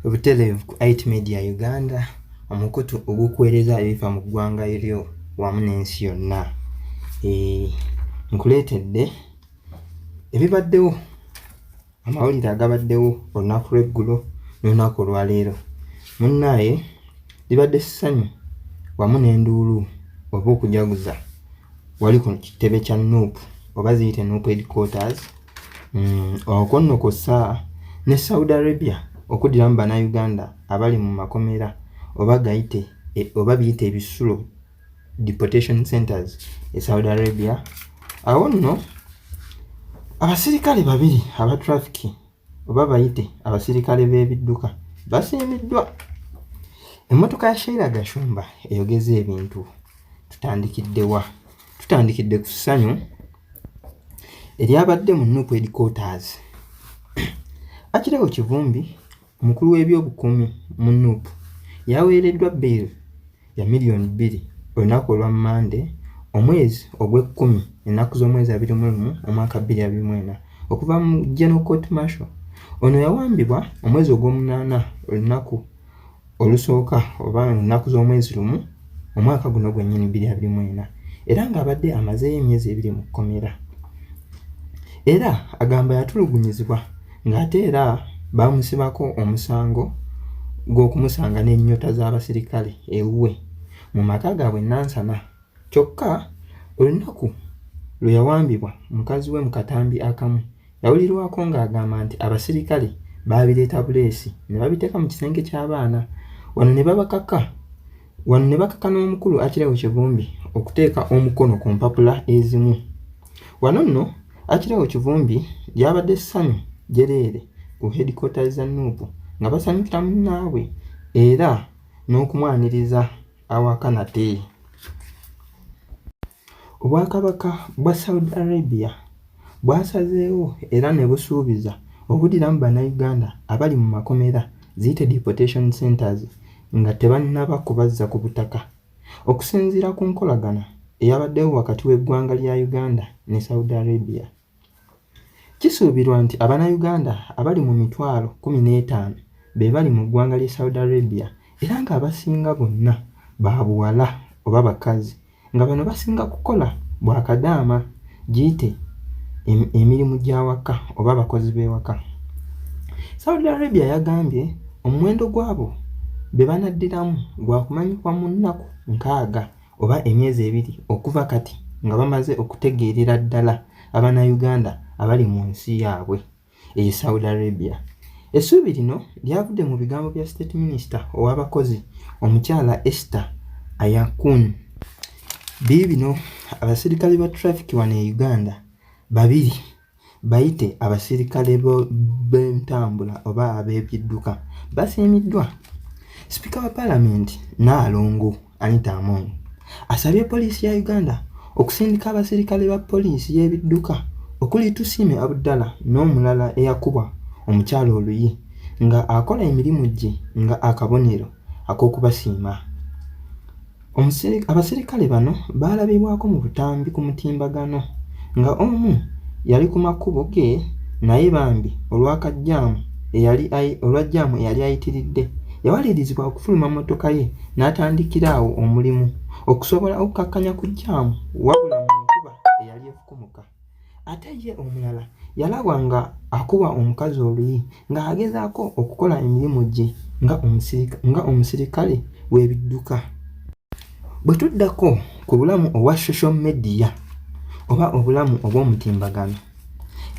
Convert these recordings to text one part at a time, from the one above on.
Obutelevu ku IT Media Uganda, omukutu ogukuweereza ebifa mu ggwanga lyo wamu n'ensi yonna. Eh, nkuleetedde ebibaddewo amawulire agabaddewo olunaku lw'eggulo n'olunaku olwaleero munnaaye libadde ssanyu wamu n'enduulu oba okujaguza wali ku kitebe kya nup oba ziyite nup headquarters mm, okwo nno kw'ossa ne saudi arabia okuddiramu bannayuganda abali mu makomera oba gayite e, oba biyita ebisulo deportation centers e saudi arabia awo nno abasirikale babiri aba trafiki oba bayite abasirikale b'ebidduka basiimiddwa emmotoka ya sheila gashumba eyogeza ebintu tutandikiddewa tutandikidde ku ssanyu eryabadde mu nup headquarters akirawo kivumbi omukulu w'ebyobukuumi mu nup yaweereddwa bail ya miliyoni bbiri olunaku olwa mande omwezi ogw'ekkumi ennaku z'omwezi abiri mu lumu omwaka bbiri abiri mu ena okuva mu general court marshal ono yawambibwa omwezi ogw'omunaana olunaku olusooka oba mu nnaku z'omwezi lumu omwaka guno gwennyini bbiri abiri mu ena era ng'abadde amazeeyo emyezi ebiri mu kkomera era agamba yatulugunyizibwa ng'ate era baamusibako omusango gw'okumusanga n'ennyota z'abasirikale ewuwe mu maka gaabwe nansana Kyokka olunaku lwe yawambibwa mukazi we mu katambi akamu yawulirwako ng'agamba nti abasirikale baabireeta buleesi ne babiteeka mu kisenge ky'abaana wano ne babakaka wano ne bakaka n'omukulu Akirawo Kivumbi okuteeka omukono ku mpapula ezimu. Wano nno Akirawo Kivumbi gy'abadde ssanyu jjereere ku headquarters za Nuupu nga basanyukira munnaabwe era n'okumwaniriza. awaka nate. Obwakabaka bwa Saudi Arabia bwasazeewo era ne busuubiza obuddiramu Bannayuganda abali mu makomera ziyite deportation centers nga tebannaba kubazza ku butaka. Okusinziira ku nkolagana eyabaddewo wakati w'eggwanga lya Uganda ne Saudi Arabia, Kisuubirwa nti Abanayuganda abali mu mitwalo kumi n'etaano be bali mu ggwanga ly'e Saudi Arabia era ng'abasinga bonna ba buwala oba bakazi nga bano basinga kukola bwa kadaama giyite emirimu gy'awaka oba abakozi b'ewaka. Saudi Arabia yagambye omuwendo gw'abo be banaddiramu gwa kumanyikwa mu nnaku nkaaga. oba emyezi ebiri okuva kati nga bamaze okutegeerera ddala Abannayuganda abali mu nsi yaabwe eye Saudi Arabia. Essuubi lino lyavudde mu bigambo bya State Minister ow'abakozi omukyala Esther Ayakun. Biibino abasirikale ba traffic wano e Uganda babiri Bayite abasirikale b'entambula oba ab'ebidduka basiimiddwa. Sipiika wa Palamenti Nnaalongo Anita Among asabye poliisi ya Uganda okusindika abasirikale ba poliisi y'ebidduka okuli Tusiime Abdallah n'omulala eyakubwa omukyala oluyi nga akola emirimu gye nga akabonero ak'okubasiima. Abaserikale bano baalabibwako mu butambi ku mutimbagano nga omu yali ku makubo ge naye bambi olwakajjaamu eyali olwa jjaamu eyali ayitiridde yawalirizibwa okufuluma mmotoka ye n'atandikira awo omulimu okusobola okukkakkanya ku jjaamu wabula mu nkuba eyali efukumuka. ate ye omulala yalaba nga akuba omukazi oluyi ng'agezaako okukola emirimu gye nga omusirikale w'ebidduka bwe tuddako ku bulamu obwa social media oba obulamu obw'omutimbagano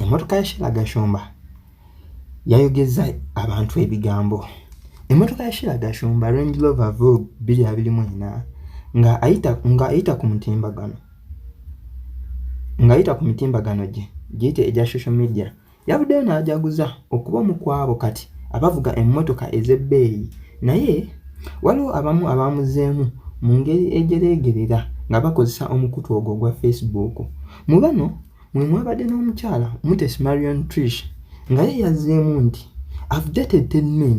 emmotoka ya shira gashumba yayogeza abantu ebigambo emmotoka ya shira gashumba range lover vog 224 ng'ayita ku mutimbagano ng'ayita ku mitimbagano gye giyite egya social media yavuddeyo n'ajaguza okuba omu ku abo kati abavuga emmotoka ez'ebbeeyi naye waliwo abamu abaamuzeemu mu ngeri ejereegerera nga bakozesa omukutu ogwo ogwa facebook mu bano mwe mwabadde n'omukyala mutes marion trish nga ye yazzeemu nti i've dated ten men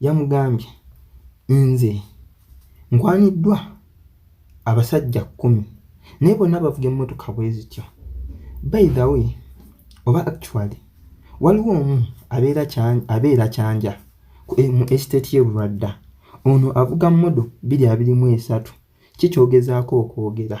yamugambye, Nze nkwaniddwa abasajja kkumi naye bonna bavuga emmotoka bwe zityo. By the way oba actually waliwo omu abeera kyanja eh, mu estate ye Bulwadda ono avuga modo biri abiri mu esatu kikyogezaako okwogera.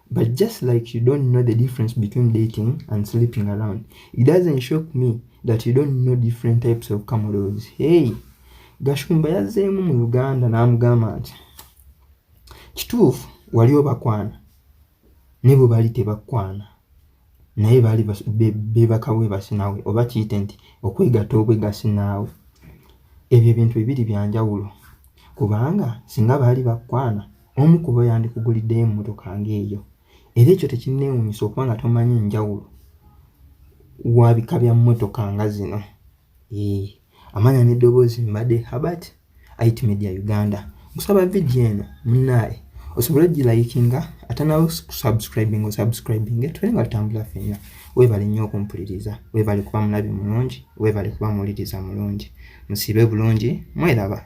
But just like you don't know the difference between dating and sleeping around, it doesn't shock me that you don't know different types of cameras. Hey, Gashumba yazzeemu mu Uganda n'amugamba nti kituufu wali obakwana ne bwe bali tebakwana naye baali beebaka weebasi naawe oba kiyite nti okwegatta obwegasi naawe ebyo ebintu bibiri bya njawulo kubanga singa baali bakwana omu kuba yandikuguliddeyo emmotoka ng'eyo era ekyo tekinneewuunyisa okuba nga tomanyi njawulo wabika bya mmotoka nga zino amanya n'eddoboozi mbadde habati IT Media Uganda. Nkusaba video eno munaye osobole ogilayikinga ate nawe kusubscribing osubscribing tube nga tutambula fenna. Weebale nnyo okumpuliriza, weebale kuba mulabi mulungi, weebale kuba muwuliriza mulungi. Musiibe bulungi, mweraba.